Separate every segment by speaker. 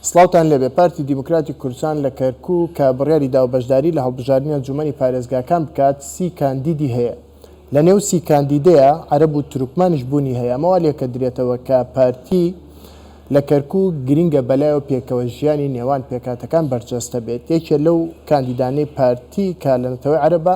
Speaker 1: سڵاوتان لێبێ، پارتی دیموکراتی کوردستان لە کەرکوک کە بڕیاری داوە بەشداری لە هەڵبژاردنی ئەنجومەنی پارێزگاکان بکات سی کاندیدی هەیە، لە نێو سی کاندیدەیا عەرەب و تورکمانیش بوونی هەیە، ئەمە وا لێکەدرێتەوە کە پارتی لە کەرکوک گرنگە بەلایەوە پێکەوە ژیانی نێوان پێکهاتەکان بەرجەستە بێت، یەکێ لەو کاندیدانەی پارتی کە لە نەتەوەی عەرەبە،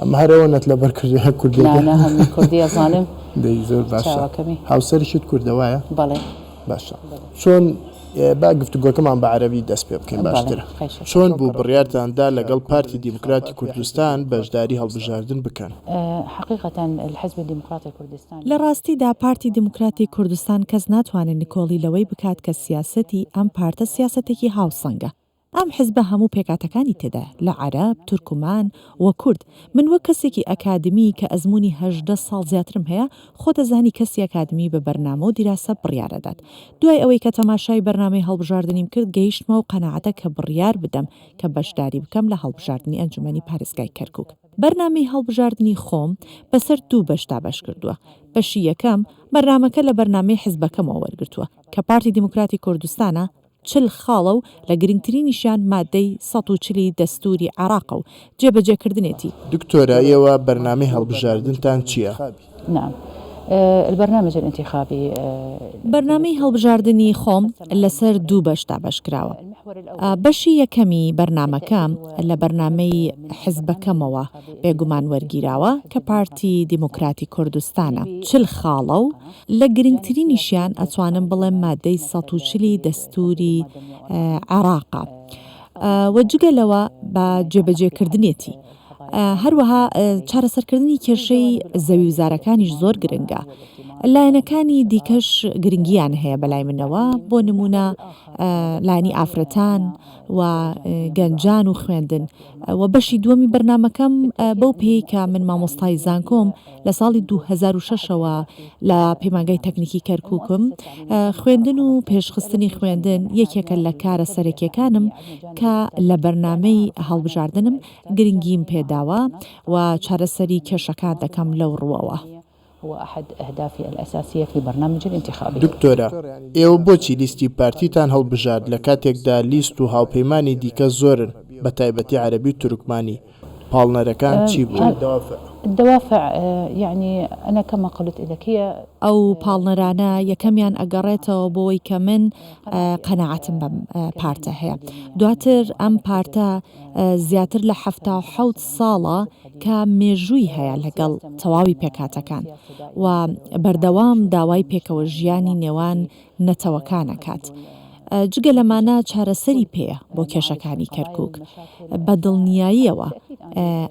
Speaker 1: ئەمە هەر ئەوە نەت لەبەر کردووە هەر کوردی نا نا هەمووی کوردی
Speaker 2: ئەزانم دەی زۆر باشە
Speaker 1: چاوەکەمی هاوسەرشت کوردە وایە بەڵێ
Speaker 2: باشە
Speaker 1: چۆن با گفتوگۆکەمان بە عەرەبی دەست پێ بکەین بەڵێ باشترە خەیشە چۆن چۆن بوو کڕۆکە بڕیارتان دا لەگەڵ پارتی دیموکراتی کوردستان بەشداری هەڵبژاردن بکەن؟ حقیقەتا
Speaker 2: الحزب دیموکراتی کوردستان لە ڕاستیدا پارتی
Speaker 3: دیموکراتی کوردستان کەس ناتوانێ نکۆڵی لەوەی بکات کە سیاسەتی ئەم پارتە سیاسەتێکی هاوسەنگە، ئەم حزبە هەموو پێکاتەکانی تێدایە لە عەرەب، تورکمان و کورد. من وەک کەسێکی ئەکادمی کە ئەزموونی هەژدە ساڵ زیاترم هەیە، خۆت ئەزانی کەسی ئەکادمی بە بەرنامە و دیراسە بڕیار ئەدات. دوای ئەوەی کە تەماشای بەرنامەی هەڵبژاردنیم کرد گەیشتمە و قەناعەتە کە بڕیار بدەم کە بەشداری بکەم لە هەڵبژاردنی ئەنجومەنی پارێزگای کەرکوک. بەرنامەی هەڵبژاردنی خۆم بەسەر دوو بەش دابەش کردووە. بەشی یەکەم، بەرنامەکە لە بەرنامەی حزبەکەمەوە وەرگرتووە کە پارتی دیموکراتی کوردستانە، چل خاڵە و لە گرنگترینیشیان ماددەی سەد و چل ی دەستووری عێراقە و جێبەجێکردنێتی. دکتۆرە
Speaker 1: ئێوە بەرنامەی هەڵبژاردنتان چییە؟
Speaker 2: بەرنامەی
Speaker 3: هەڵبژاردنی خۆم لەسەر دوو بەش دابەشکراوە. بەشی یەکەمی بەرنامەکە لە بەرنامەی حزبەکەمەوە بێگومان وەرگیراوە کە پارتی دیموکراتی کوردستانە، چل خاڵە و، لە گرنگترینیشیان ئەتوانم بڵێم مادەی سەد و چل ی دەستوری عێراقە و جگە لەوە بە جێبەجێکردنێتی هەروەها چارەسەرکردنی کێشەی زەوی وزارەکانیش زۆر گرنگە لایەنەکانی دیکەش گرنگیان هەیە بەلای منەوە بۆ نمونە لانی ئافرەتان و گەنجان و خوێندن و بەشی دووەمی بەرنمەکەم بەو پێی کە من مامۆستای زانکۆم لە ساڵی دوو هەزار و شەش ەوە لە پەیمانگای تەکنیکی کەرکوکم، خوێندن و پێشخستنی خوێندن یەکێکە لە کارە سەرەکیەکانم کە لە بەرنامەی هەڵبژاردنم گرنگیم پێداوە و چارەسەری کێشەکان دەکەم لەو ڕووەوە.
Speaker 2: دکتۆرە،
Speaker 1: ئێوە بۆچی لیستی پارتیتان هەڵبژارد لە کاتێکدا لیست و هاوپەیمانی دیکە زۆرن بە تایبەتی عەرەبی و تورکمانی، پاڵنەرەکان چی بوون؟ الدوافع
Speaker 2: یەعنی انا کما قلت الک هی. ئەو پاڵنەرانە
Speaker 3: یەکەمیان ئەگەڕێتەوە بۆوەی کە من قەناعەتم بەم پارتە هەیە دواتر ئەم پارتە زیاتر لە حەفتا و حەوت ساڵە کە مێژووی هەیە لەگەڵ تەواوی پێکهاتەکان و بەردەوام داوای پێکەوەژیانی نێوان نەتەوەکان ئەکات جگە لەمانە چارەسەری پێیە بۆ کێشەکانی کەرکوک بە دڵنیاییەوە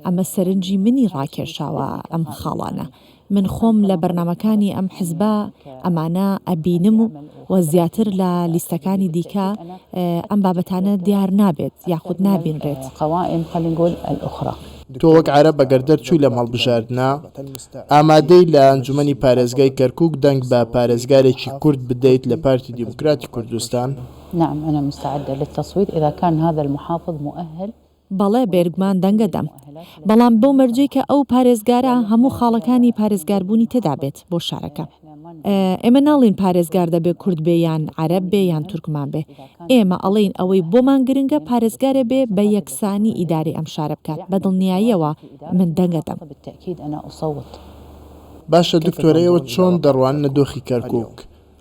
Speaker 3: ئەمە سەرنجی منی ڕاکێشاوە ئەم خاڵانە من خۆم لە بەرنمەکانی ئەم حزبە ئەمانە ئەبینم و و زیاتر لە لیستەکانی دیکە ئەم بابەتانە دیار نابێت یاخود نابینرێت قوائم خلينا نقول
Speaker 2: الأخرى تۆ وەک عەرەب
Speaker 1: ئەگەر دەرچووی لەم هەڵبژاردنە، ئامادەی لە ئەنجومەنی پارێزگای کەرکوک دەنگ بە پارێزگارێکی کورد بدەیت لە پارتی دیموکراتی کوردستان؟ نعم انا
Speaker 2: مستعدە للتصویت اذا کان هذا المحافظ مؤهل. بەڵێ بێرگمان
Speaker 3: دەنگەدەم بەڵام بەو مەرجەی کە ئەو پارێزگارە هەموو خاڵەکانی پارێزگاربوونی تێدابێت بۆ شارەکە. ئێمە ناڵێین پارێزگار دەبێ کورد بێ یان عەرەب بێ یان تورکمان بێ، ئێمە ئەڵێین ئەوەی بۆمان گرنگە پارێزگارێ بێ بە یەکسانی ئیدارەی ئەم شارە بکات، بە دڵنیاییەوە من دەنگ ئەدەم.
Speaker 1: باشە دکتۆر ئێوە چۆن دەڕواننە دۆخی کەرکوک؟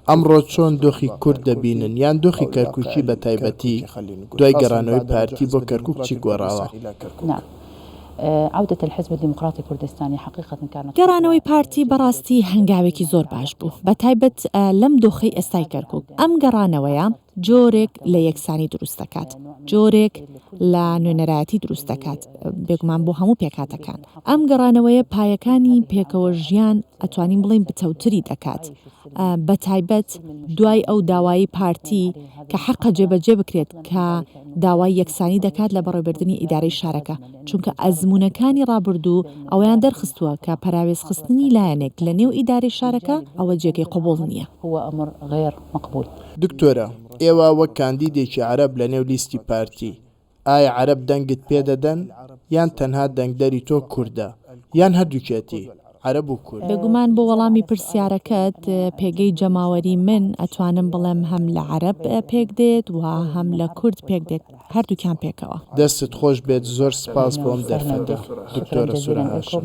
Speaker 1: ئەمڕۆ چۆن دۆخی کورد دەبینن یان دۆخی کەرکوکی بە تایبەتی دوای گەڕانەوەی پارتی بۆ کەرکوک چی گۆڕاوە؟
Speaker 2: عودة الحزب الديمقراطي الكردستاني حقيقة كانت خطوة گەڕانەوەی پارتی بە
Speaker 3: ڕاستی هەنگاوێکی زۆر باش بوو بە تایبەت لەم دۆخەی ئێستای کەرکوک ئەم گەڕانەوەیە جۆرێک لە یەکسانی دروست دەکات جۆرێک لە نوێنەرایەتی دروست دەکات بێگومان بۆ هەموو پێکهاتەکان ئەم گەڕانەوەیە پایەکانی پێکەوە ژیان ئەتوانین بڵێین بتەوتری دەکات بەتایبەت دوای ئەو داوایی پارتی کە حەقە جێبەجێ بکرێت کە داوای یەکسانی دەکات لە بەڕێوبردنی ئیدارەی شارەکە، چونکە ئەزموونەکانی ڕابردوو ئەوەیان دەرخستووە کە پەراوێزخستنی لایەنێک لە نێو ئیدارەی شارەکە ئەوە جێگەی قبوڵ نییە.
Speaker 2: دکتۆرە،
Speaker 1: ئێوە وەک کاندیدێکی عەرەب لە نێو لیستی پارتی، ئایا عەرەب دەنگت پێ دەدەن یان تەنها دەنگدەری تۆ کوردە یان هەردوکیەتی عەرەب و کورد؟ بێگومان بۆ وەڵامی
Speaker 3: پرسیارەکەت پێگەی جەماوەری من ئەتوانم بڵێم هەم لە عەرەب پێک دێت و هەم لە کورد پێک دێت هەردوکیان پێکەوە. دەستت خۆش بێت
Speaker 1: زۆر سپاس بۆ ئەم دەرفەتە دکتۆرە سورە هاشم.